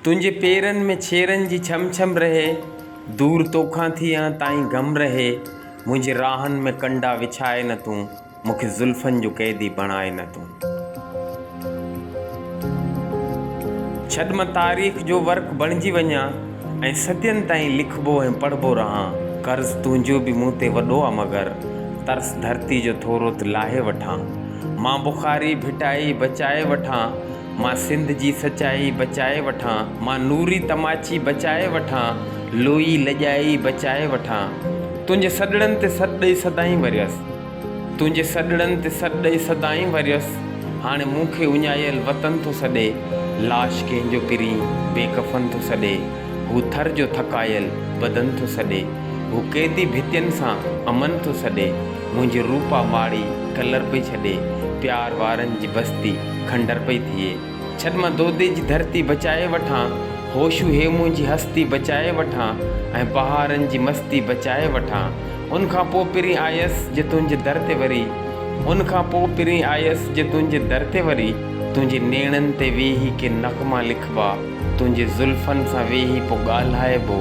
تنهنجي پيرن ۾ ڇيرن جي ڇم ڇم رهي، دور توکان ٿي ان تائين گم رهي، منهنجي راهن ۾ ڪنڊا وڇائي نه تون، مون کي زلفن جو قيدي بڻائي نه تون. ڇڏ مان تاريخ جو ورق بڻجي وڃان ۽ صدين تائين لکبو ۽ پڙهبو رهان، قرض تنهنجو به مون تي وڏو آ مگر ترس ڌرتي جو ٿورو ته لاهي وٺان، مان بخاري ڀٽائي بچائي وٺان، مان سنڌ جي سچائي بچائي وٺان مان نوري تماچي بچائي وٺان لوئي لڄائي بچائي وٺان تنهنجي سڏڙن تي سڏ ڏئي سدائين وريس تنهنجي سڏڙن تي سڏ ڏئي سدائين وريس هاڻي مون کي اڃايل وطن ٿو سڏي لاش ڪنهن جو پرين بي ڪفن ٿو سڏي هو ٿر جو ٿڪايل بدن ٿو سڏي هو قيدي ڀتين سان امن ٿو سڏي منهنجي روپا ماڙي ڪلر پئي ڇڏي پيار وارن جي بستي کنڊر پئي ٿئي. ڇڏ مان دودي جي ڌرتي بچائي وٺان، هوشو هيمون جي هستي بچائي وٺان ۽ بهارن جي مستي بچائي وٺان. ان کان پوء پرين آيس جي تنهنجي در تي وري ان کان پوء پرين آيس جي تنهنجي در تي وري تنهنجي نيڻن تي ويهي ڪي نغما لکبا. تنهنجي زلفن سان ويهي پو ڳالهائبو،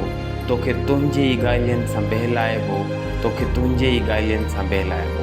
توکي تنهنجي ئي ڳالهين سان بهلائبو، توکي تنهنجي ئي ڳالهين سان بهلائبو.